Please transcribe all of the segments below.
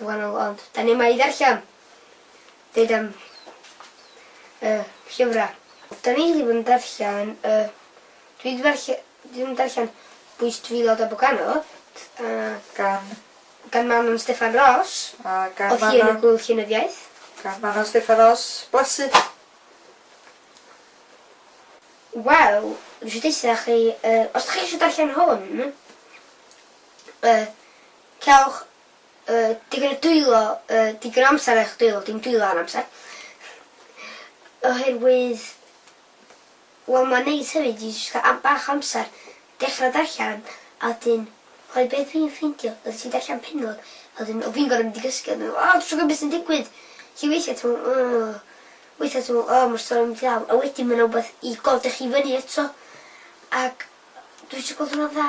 Mae'n wahanol ond 'da ni yma i ddarllen, deud am y llyfrau. Da ni wedi bod yn darllen y... dwi wedi darllen... dwi wedi darllen Bwys Drylod a Boganodd a... Gan? Gan Manon Steffan Ros. A gan Manon? Oedd hi yn y Gŵyl Llenyddiaeth. Gan Manon Steffan Ros. Blasu! Wel, dwi isio deutha chi yy os dach chi isio darllen hwn yy Cewch yy digon o dwylo yy digon o amser ar eich dwylo, dim dwylo ar amser. Oherwydd wel ma'n neis hefyd i jyst ca'l am- bach o amser dechra darllan a wedyn oherwydd be' dwi'n ffeindio os ti'n darllan pennod a wedyn o fi'n gor'o' mynd i gysgu a meddwl o dwi isio gwbo be' sy'n digwydd! Felly weithia' ti'n me'wl o weithia' ti'n me'wl o ma'r stori'n mynd i lawr a wedyn ma' 'na wbath i godach chi fyny eto ac dwi isio gweld hwnna'n dda.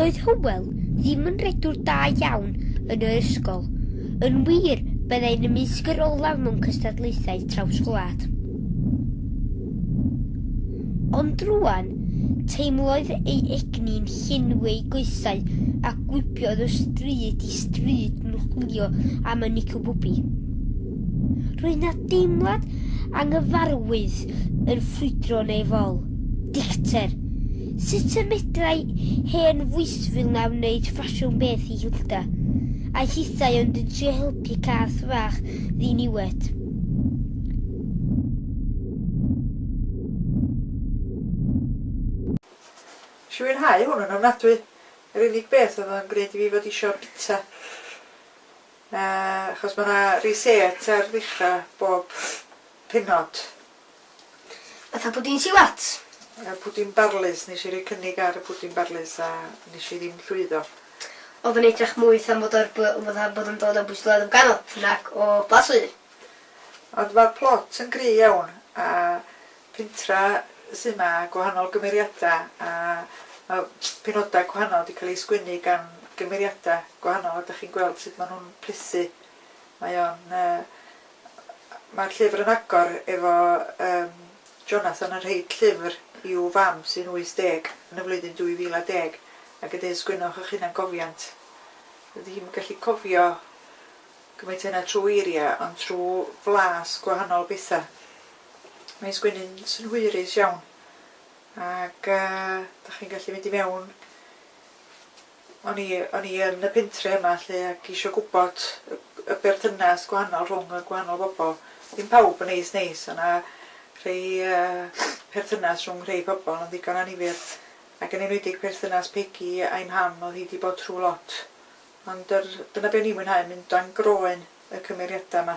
Doedd Hywel ddim yn redwr da iawn yn yr ysgol. Yn wir, byddai'n ymysg yr olaf mewn cystadlaethau traws-gwlad. Ond rwan, teimlodd ei egni'n llenwi ei goesau a gwibiodd o stryd i stryd yn chwilio am y Nico Bwbi. Roedd na deimlad anghyfarwydd yn ffrwydro neu fol. Dicter. Sut y medrai hen fwysfil na wneud ffasiwn beth i Hilda? Aeth hithau ond yn trio helpu cath fach ddiniwed. Nes i fwynhau hwn yn ofnadwy. Yr unig beth oedd o'n gwneud i fi fod isio'r bita. Na, achos mae 'na reset ar ddechrau bob pennod. Fatha pwdin siwat? Y pwdin barlys, nes i roi cynnig ar y pwdin barlys a nes i ddim llwyddo. Oedd yn edrach mwy 'tha mod ar by- fatha bod yn dod o Bwystffordd yn ganol, nag o Plas Ŵyr. Ond ma'r plot yn gry iawn a pentref sydd yma, gwahanol gymeriadau a mae pennodau gwahanol wedi cael eu sgwennu gan gymeriadau gwahanol a dach chi'n gweld sut maen nhw'n plethu. Mae o'n... yy mae'r llyfr yn agor efo yym Jonathan yn rhoi llyfr i'w fam sy'n 80 yn y flwyddyn 2010 ac yn dweud sgwennwch eich hunangofiant. Dydy hi'm yn gallu cofio gymaint a hynna trwy eiriau ond trwy flas gwahanol bethau. Mae'n sgwennu'n synhwyrus iawn ac yy dach chi'n gallu mynd i mewn. O'n i o'n i yn y pentre yma 'lly ac isio gwybod y y berthynas gwahanol rhwng y gwahanol bobl. Ddim pawb yn neis neis, o' 'na rhei yy perthynas rhwng rhei pobl yn ddigon annifyr ac yn enwedig perthynas Pegi a'i mham o'dd hi 'di bod trw' lot ond yr dyna be' o'n i'n mwynhau mynd dan groen y cymeriada 'ma.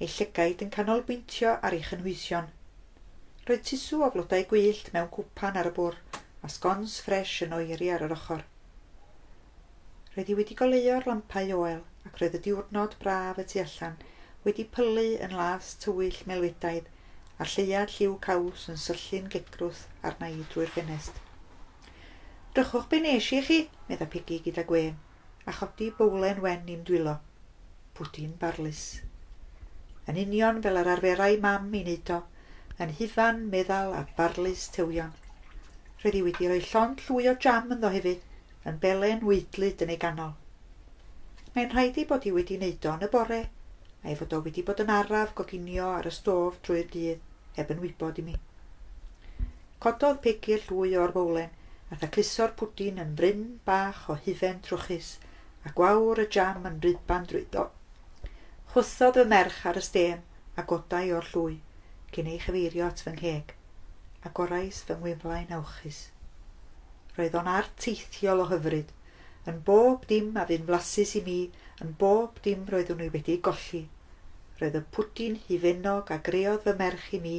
Ei llygaid yn canolbwyntio ar ei chynhwysion. Roedd tusw o flodau gwyllt mewn cwpan ar y bwr', a sgons ffres yn oeri ar yr ochr. Roedd hi wedi goleuo'r lampau oel, ac roedd y diwrnod braf y tu allan wedi pylu yn las tywyll melwydaidd, a'r lleuad lliw caws yn syllu'n gedgrwth arna i drwy'r ffenest. Drychwch be' nes i i chi, medda Pegi gyda gwên. a chodi bowlen wen i'm dwylo. Pwdin barlys. Yn union fel yr arferai mam i wneud o, yn huvan, meddal a barlys tewion. Roedd hi wedi rhoi llond llwy o jam ynddo hefyd, yn belen weidlyd yn ei ganol. Mae'n rhaid ei bod hi wedi wneud o yn y bore, a'i fod o wedi bod yn araf goginio ar y stof drwy'r dydd, heb yn wybod i mi. Cododd Peggy llwy o'r fowlen a thacluso'r pwdin yn fryn bach o hufen trwchus, a gwawr y jam yn rhyddban drwyddo. Chwythodd fy merch ar y stêm a godai o'r llwy, cyn ei chyfeirio at fy ngheg. Agorais fy ngwynflaen awchus. Roedd o'n art teithiol o hyfryd, Yn bob dim a fu'n flasus i mi, yn bob dim roeddwn i wedi golli. Roedd y pwdin hufennog a greodd fy merch i mi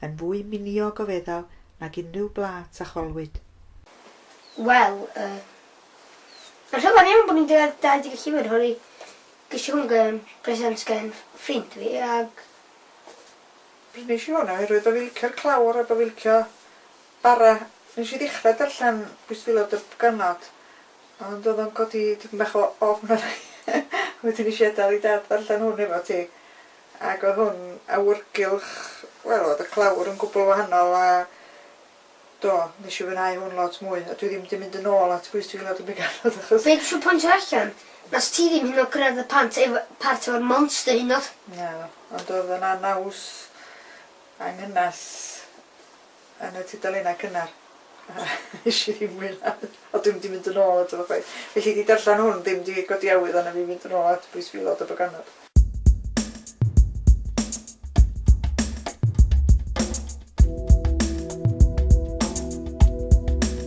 yn fwy miniog o feddal nag unrhyw blât a cholwyd. Wel, y. Mae'n rhyfedd iawn bod ni'n deuddeg dau deg y llyfr hwn i gesiwn gan bresant gan ffrind fi ac. Prynish i hwn oherwydd bo' fi licio'r clawr a bo' fi licio Bara, nes i ddechra darllen Pwystfilod dy Bganod, ond oedd o'n codi tipyn bach o ofn arna i, wedyn nes i adal i Dad ddarllen hwn efo ti, ac oedd hwn awyrgylch, wel oedd y clawr yn gwbl wahanol a do, nes i fwynhau hwn lot mwy, a dwi ddim di mynd yn ôl at Bwystfilod dy Bganod achos... Be dwisio pointio allan, nes ti ddim hyd yn oed cyrraedd y pant efo, part efo'r monster hyd yn oed. Naddo, ond oedd o'n anaws, anghynas. yn y tudalennau cynnar. Nes i ddim mwynhau. Ond dwi'm di mynd yn ôl ato fo chwaith. Felly di darllen hwn ddim di codi awydd arna fi fynd yn ôl at Bwys Filod a Baganod.